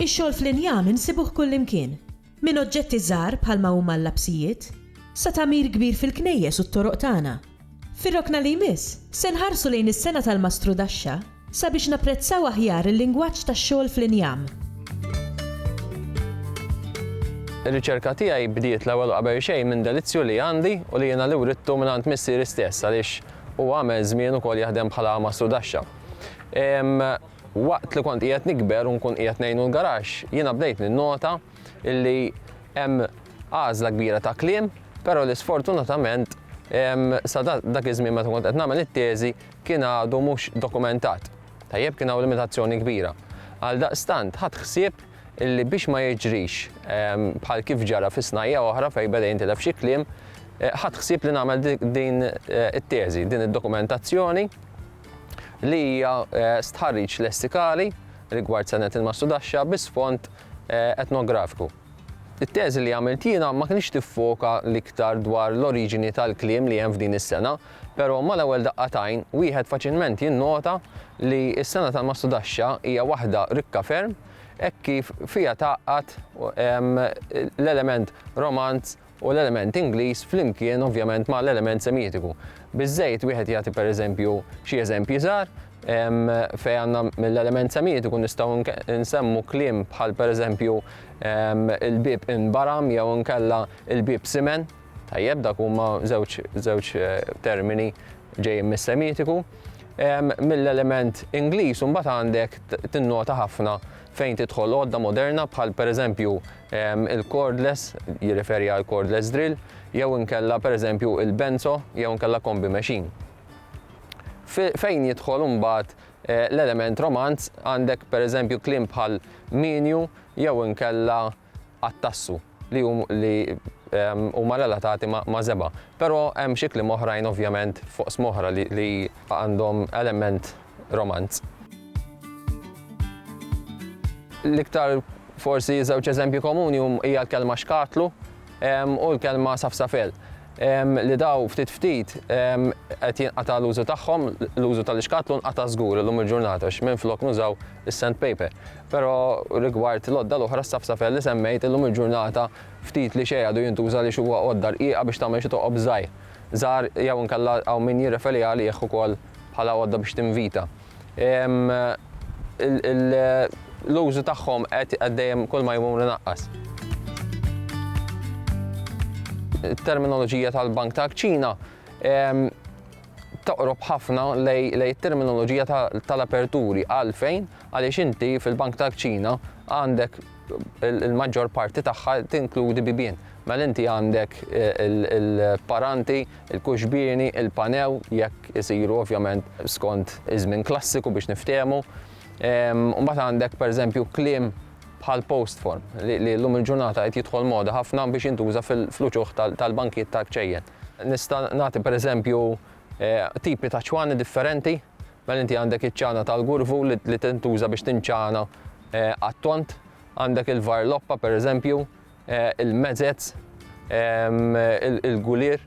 Ix-xogħol fl-injam insibuh kullimkien, minn oġġetti żgħar bħalma huma l-lapsijiet, sa tagħmir kbir fil-knejjes u t-toroq tagħna. Fir-rokna li jmiss, se nħarsu lejn is-sengħa tal-mastrudaxxa sabiex napprezzaw aħjar il-lingwaġġ tax-xogħol fl-injam. Ir-riċerka tiegħi bdiet l-ewwel u qabel xejn minn delizzju li għandi u li jiena li writtu mingħand missieri stess għaliex huwa għamel żmien ukoll jaħdem bħala mastrudaxxa. Waqt li kont qiegħed nikber u nkun qiegħed ngħinu l-garaxx, jiena bdejt ninnota, illi hemm għażla kbira ta' kliem, però li sfortunatament sa dak iż-żmien meta kont qed nagħmel it-teżi kien għadu mhux dokumentat. Tajjeb kien hawn limitazzjoni kbira. Għaldaqstant ħadd ħsieb illi biex ma jiġrix bħal kif ġara fi snajja oħra fejn beda jintilef xi kliem, eh, ħadd ħsieb li nagħmel din eh, it-teżi, din id-dokumentazzjoni li hija eh, stħarriġ lessikali rigward senet il-mastudaxxa bi sfond eh, etnografiku. It-teżi li għamilt jiena ma kienx tiffoka l-iktar dwar l-oriġini tal-kliem li hemm f'din is-sena, però mal-ewwel daqqatajn wieħed faċilment jinnota li s-sena tal-Mastudaxxa hija waħda rikka ferm hekk kif fiha tgħaqqad ehm, l-element romanz u l-element Ingliż flimkien ovvjament ma' l-element Semitiku. Biż-żejt wieħed jagħti pereżempju xi eżempji żgħar fejn għandna mill-element Semitiku nistgħu nsemmu kliem bħal pereżempju il-bieb inbaram jew inkella il-bieb simen. Tajjeb, dak huma żewġ żewġ termini ġejjin mis-Semitiku. Mill-element Ingliż imbagħad għandek tinnota ħafna fejn tidħol għodda moderna bħal pereżempju Il-cordless jirreferi għal cordless drill jew inkella pereżempju il-benzo jew inkella kombi machine. Fejn jidħol imbagħad eh, l-element romanz għandek pereżempju kliem bħal minju jew inkella attassu li li ehm, huma relatati ma' zeba. Però hemm xi kliem oħrajn ovvjament fuq smoħra li għandhom element romanz. L-iktar forsi żewġ eżempji komuni hija l-kelma xkatlu u l-kelma safsafel li daw ftit ftit qed jinqata' l-użu tagħhom, l-użu tal-ixkatlu nqata' żgur illum il-ġurnata minn flok nużaw is-sandpaper. Però rigward l-għodda l-oħra s-safsafel li semmejt illum il-ġurnata ftit li xejn għadu jintuża li huwa għodda rqiqa biex tagħmel xi toqob żgħir. Żgħar jew inkella hawn min jirreferi għalih ukoll bħala għodda biex tinvita. L-użu tagħhom qed dejjem kull ma jmur inaqqas. It-terminoloġija tal-Bank ta' Ċina toqrob ħafna lej terminoloġija tal-aperturi għalfejn għaliex inti fil-Bank ta' Ċina għandek il-maġġor parti tagħha tinkludi bibien. Mela inti għandek il-paranti, il-kuxbieni, il-panew, jekk isiru ovvjament skont iż-żmien klassiku biex niftehmu. Mbagħad għandek pereżempju kliem bħal post form li llum il-ġurnata qed jidħol moda ħafna biex jintuża fl-uċuħ tal-bankijiet tal-kċejjen. Nista' nagħti pereżempju tipi ta' ċwani differenti. Mela inti għandek iċ-ċana tal-gurvu li tintuża biex tinċana għat-tond, għandek il-varloppa pereżempju, il-mezez, il-gulier,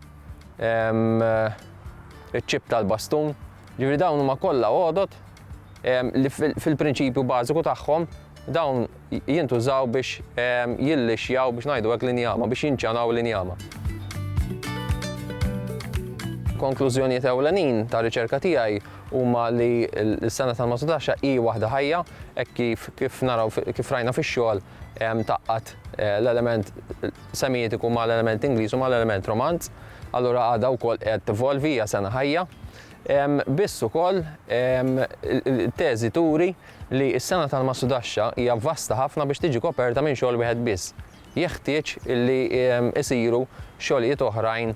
iċ-ċip tal-bastun. Ġifieri dawn huma kollha għodod li fil-prinċipju bażiku tagħhom dawn jintużaw biex jillixjaw biex ngħidu hekk l-injama, biex jinċanaw l-injama. Konklużjonijiet ewlenin tar-riċerka tiegħi huma li l-sena tal-Masutasha hi waħda ħajja, hekk kif kif naraw kif rajna fix-xogħol tgħaqqad l-element Semitiku ma' l-element Ingliż u ma' l-element Romanz, allura għadha wkoll qiegħda tevolvi, hija sena ħajja. Biss ukoll it-teżi turi li s-sena tal-Masutasha hija vasta ħafna biex tiġi koperta minn xogħol wieħed biss. Jeħtieġ li jsiru xogħlijiet oħrajn